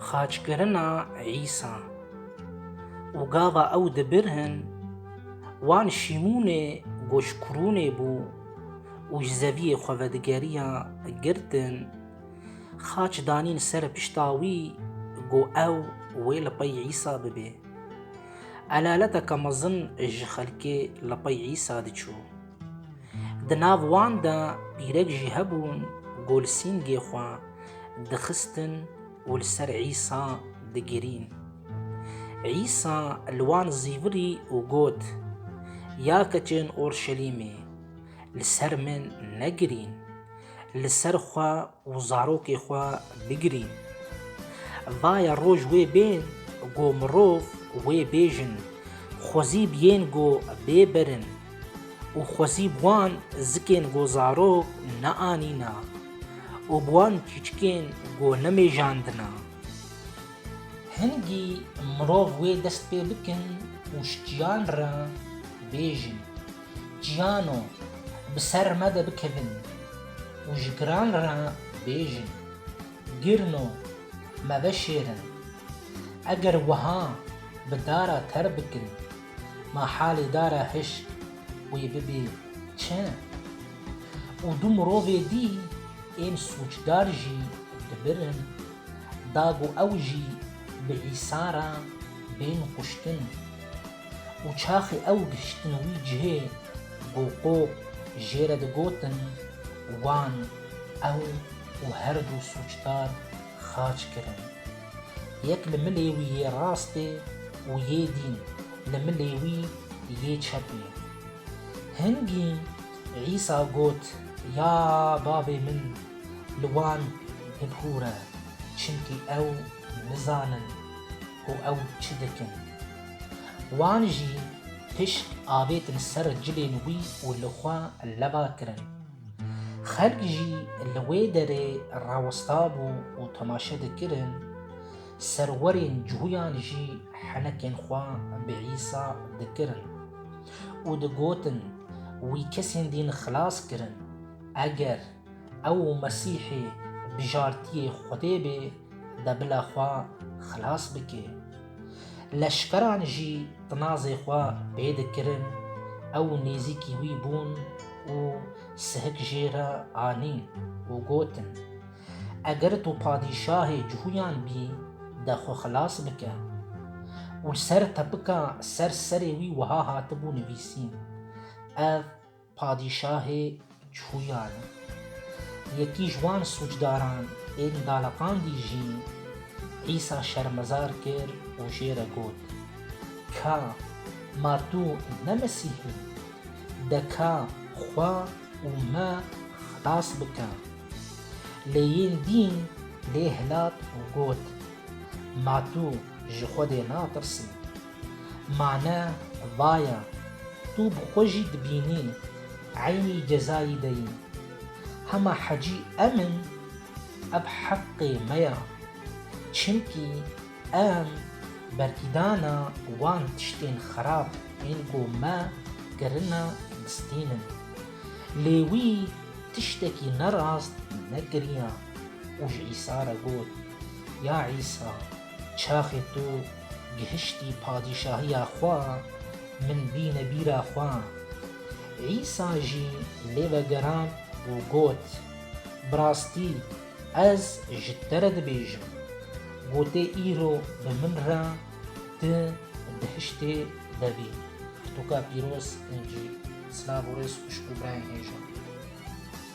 Xaçkirina Îsa û gava ew dibirhin wan Şîmûnê goş Kurûnê bû û ji zeviyê xwe vedigeriya girtin xaç danîn ser pişta wî got ew wê li pey Îsa bibê. Elaleteke mezin ji xelkê li pey Îsa diçû. Di nav wan de îrek jî hebûn ku li sîngê xwe dixistin û li ser Îsa digirîn. Îsa li wan zîvirî û got, Ya keçên Orşelîmê, li ser min negirîn, li ser xwe Û zarokê xwe bigirî. Vaye roj wê bên go mirov wê bêjin, xwezîb yên go bê berin û xwezîb wan zikên go zarok neanîna û bi wan çîçikên go nemêjandina. Hingî mirov wê dest pê bikin û şikiyan re bêjin. Cîyano, bi ser me de bikevin û ji giran re bêjin, Girno, me veşêrin. Eger wiha bi dara ter bikin, ma halê dara hişk wê bibê çi? Û du mirovê dî ên sûcdar jî dibirin, da ku ew jî bi Îsa re bên kuştin. û çaxê ew gihiştin wî cihê ku Qoq jê re digotin wan ew û her du sûcdar xaç kirin. Yek li milê wî yê rastê û yê dîn li milê wî yê çepê. Hingî Îsa got ya Bavê min li wan bibûre çimkî ew nizanin. Û ew çi dikin? Wan jî pişt avêtin ser cilên wî û li xwe leba kirin. Xelk jî li wê derê rawestabû û temaşe dikirin, serwerên cuyan jî henekên xwe bi Îsa dikirin û digotin, Wî kesên din xilas kirin, eger Ew Mesîhê bijartiyê Xwedê bê de bila xwe xilas bike. Leşkeran jî tinazê xwe pê dikirin, ew nêzîkî wî bûn û sihik jê re anîn û gotin, Eger tu padîşahê cihûyan bî de xwe xilas bike. Û li ser tepika ser serê wî wiha hatibû nivîsîn, Ev Padîşahê çûyan e. Yekî ji wan sûcdaran ên daleqandî jî Îsa şermezar kir û jê re got, Ka ma tu ne Mesîh î? De ka xwe û me xilas bike. Lê yên dîn lê hilat û got, Ma tu ji Xwedê natirsî? Mane vaya, tu bi xwe jî dibînî eynî cezayî de yî. Hema hecî em in, ev heqê me ya. Çimkî em berkîdana wan tiştên xerab ên ku me kirine bistînin. Lê wî tiştekî nerast nekiriya û ji Îsa re got, Ya Îsa! Çaxê tu gihiştî padîşahiya xwe, min bîne bîra xwe. Îsa jî lê vegerand û got, Bi rastî ez ji te re dibêjim, gotê îro bi min re tu dihiştê vevî. Pirtûka pîroz, Înjîl. Silav û rêz xwişk û birayên hêja.